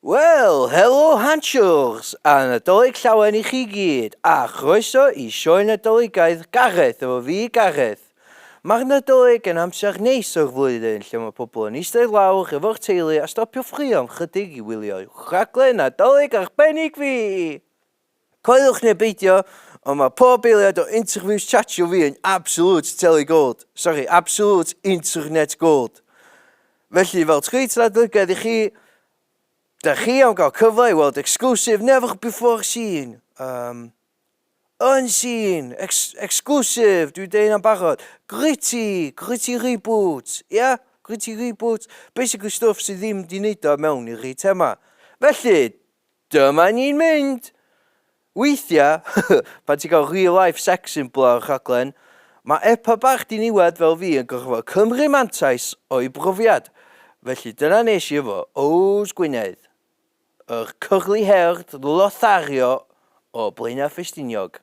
Wel, helo Hanshers a Nadolig Llawen i chi gyd, a chroeso i Sioe Nadoligaidd Gareth efo fi, Gareth. Mae'r Nadolig yn amser neis o'r flwyddyn lle mae pobl yn eistedd lawr efo'r teulu a stopio ffrio am chydig i wylio uwch rhaglen Nadolig arbennig fi! Coeliwch neu beidio, ond mae pob eiliad o interviews chatio fi yn absolute teli gold, sori, absolute internet gold. Felly, fel Tweets Ladlygedd i chi, da chi am gael cyfle i weld exclusive never before seen, um, unseen, ex exclusive, dwi'n deud hynna'n barod, gritty, gritty reboot, ia? Yeah? Gritty reboot, basically stuff sydd ddim di neud o mewn i'r rhi thema. Felly, Dyma ni'n mynd! Weithia, pan ti'n cael real life sex symbol ar y rhaglen, mae epa bach diniwed fel fi yn gorfod cymru mantais o'i brofiad, felly dyna nes i efo Ows Gwynedd, yr curly-haired lothario o Blaenau Ffestiniog.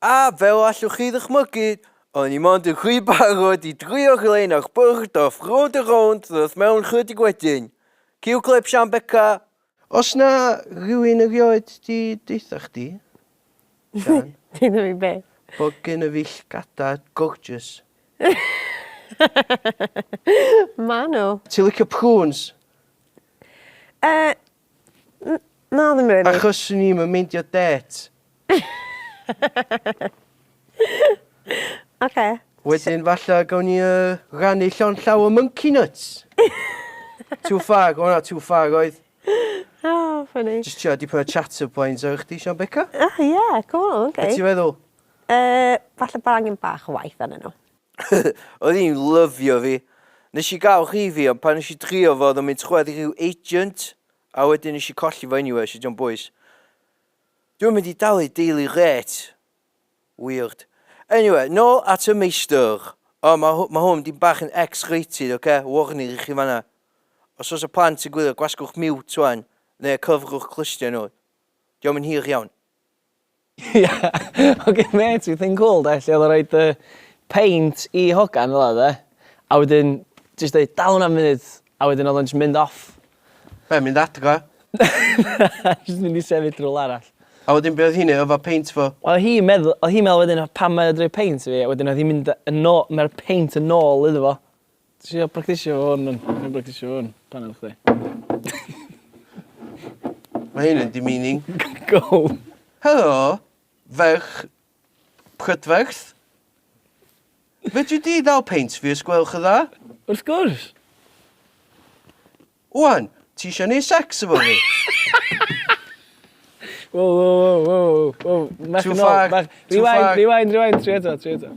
A fel allwch chi ddychmygu, o'n i mond yn rhy barod i drio glên ar bwrdd off Road a Rownd ddoth mewn chydig wedyn. Cue clip Sian Beca! Os na rhywun erioed di deutha chdi, Sian. Deutha fi be? Bo gynna fi llgada gorgeous. Ma nhw. Ti licio prunes? Yy. N- na ddim rili. Achos swn i'm yn meindio dêt. Oce. Wedyn falla gawn ni yy rannu llond llaw o mwnci nyts. Too far o na too far oedd. O ffyni. Jyst trio dipyn o chat up lines efo chdi Sian Beca. O ie cŵl oce. Be' ti feddwl? Yy falle bod angen bach o waith arnyn n'w. Oedd hi'n lyfio fi. Nes i gael rhifi ond pan nes i drio fo oedd o'n mynd trwad i rhyw agent a wedyn nes i colli fo anyway so diom bwys. Dwi'n mynd i dalu daily rate. Weird. Anyway, nôl at y meistr. O, mae hw- ma hwn mynd i'n bach yn X-rated, oce? Warning i chi fanna. Os oes y plant yn gwylio, gwasgwch mute wan, neu cyfrwch clustiau nhw. Diom yn hir iawn. Ie ok mêt fi thing cwl de lle odd o'n roid yy peint i hogan fela de a wedyn jyst deud dal wnna am funud a wedyn odd o'n jyst mynd off. Be mynd adra? Na jyst mynd i sefyll rywle arall. A wedyn be' odd hi'n neu' efo peint fo? Wel odd hi'n medd- odd hi'n me'wl wedyn pam mae o 'di roi peint i fi a wedyn odd hi'n mynd yn ô- ma'r peint yn ôl iddo fo. Ti isio practisio fo hwn? Ti'n i'n practisio fo hwn? Pan oedd chdi? Mae hyn yn demeaning. Go! Helo, ferch prydferth. Fedri di ddal peint fi os gwelwch yn dda? Wrth gwrs! Wan, ti eisiau gwneud sex efo fi? Wo wo wo wo wo. Mach yn ôl. Mach... Rewind, rewind, rewind. Tri eto, tri eto.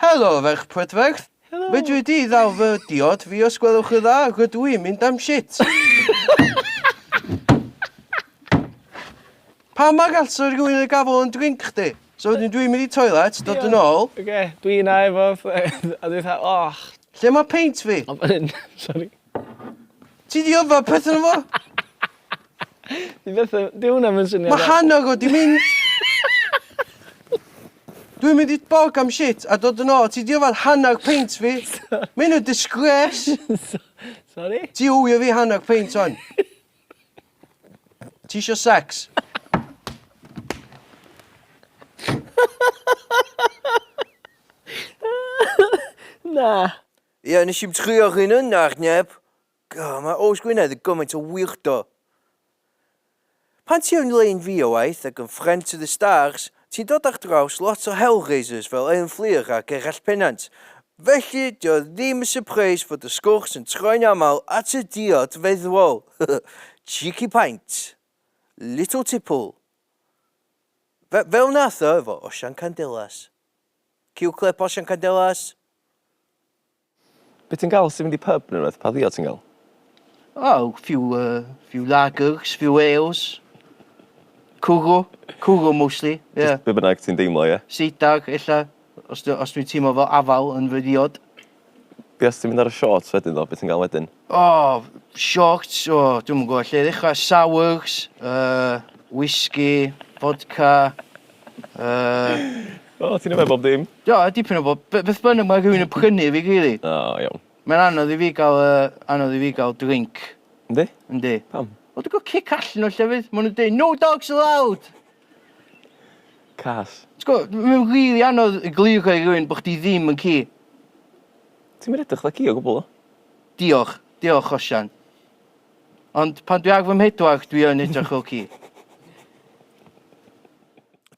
Helo, ferch prydferth. Helo. Fedri di ddal fy diod fi os gwelwch y dda, rydw i'n mynd am shit. Pam mae gall sy'n rhywun yn gafel yn drink chdi? So wedyn dwi'n mynd i toilet, dod yn ôl. Oce, dwi yna efo... A dwi'n fatha, och. Lle mae peint fi? Sorry. Ti di yffa peth yn fo? Di beth yn... Di hwnna yn syniad... Mae hannog o di mynd... Dwi'n mynd i bog am shit a dod yn ôl. Ti di yffa hannog peint fi. Mae hyn yn disgres. Sorry? Ti ywio fi hannog peint on. Ti eisiau sex? Na. Ie, nes i'm trio rhywun yna ar neb. God, mae Oes Gwynedd yn gymaint o weirdo. Pan ti yn Lein fi o waith ac yn Friend to the Stars, ti'n dod ar draws lot o Hellraisers fel Elin Fflur a Gerallt Pennant. Felly, dio o ddim yn sypreis fod y sgwrs yn troi'n aml at y diod feddwol. Cheeky paint. Little tipple. Fe- fel nath o efo Osian Candelas. Ciwcled portion Candelas. Be ti'n gael sy'n mynd i pub neu rhywbeth? Pa ddiod ti'n gael? Oh, few, uh, few lagers, few ales. Cwrw. Cwrw mostly, ie. Yeah. Be bynnag ti'n deimlo, ie? Yeah. Seidag, ella. Os, os dwi'n teimlo fel afal yn fy ddiod. Be os ti'n mynd ar y shorts wedyn ddo, beth ti'n gael wedyn? O, shorts, o, dwi'm yn gwybod lle i ddechrau, sours, uh, whisky, vodka, uh... O, ti'n yfed bob dim? Do, dipyn o bob, beth bynnag mae rhywun yn prynu fi, really. O, iawn. Mae'n anodd i fi gael, uh, anodd i fi gael drink. Yndi? Yndi. Pam? Wel, dwi'n gwybod cic allan o llefydd, maen nhw'n dweud, no dogs allowed! Cas. Ti'n gwbo, mae'n rili anodd egluro i rywun bo' chdi ddim yn ci. Ti'm yn edrych 'tha ci o gwbwl ddo. Diolch. Diolch, Osian. Ond pan dwi ar fy mhedwar, dwi yn edrych fel ci.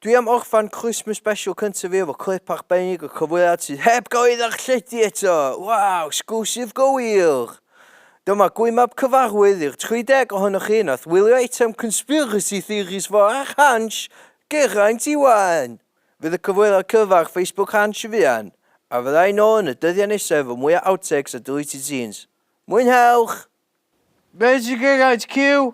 Dwi am orffan Christmas Special cynta fi efo clip arbennig o cyfweliad sydd heb gael ei ddarlledu eto! Waw! Sgwrs sydd go wir! Dyma gwymab cyfarwydd i'r 30 ohonoch chi nath wylio eitem Conspiracy Theories for ar Hansh, Geraint Iwan! Fydd y cyfweliad cyfa ar Facebook Hansh yn fuan, a fydda i nôl yn y dyddiau nesaf efo mwy o Outtakes a Deleted Scenes. Mwynhewch! Be' sy Geraint Cyw?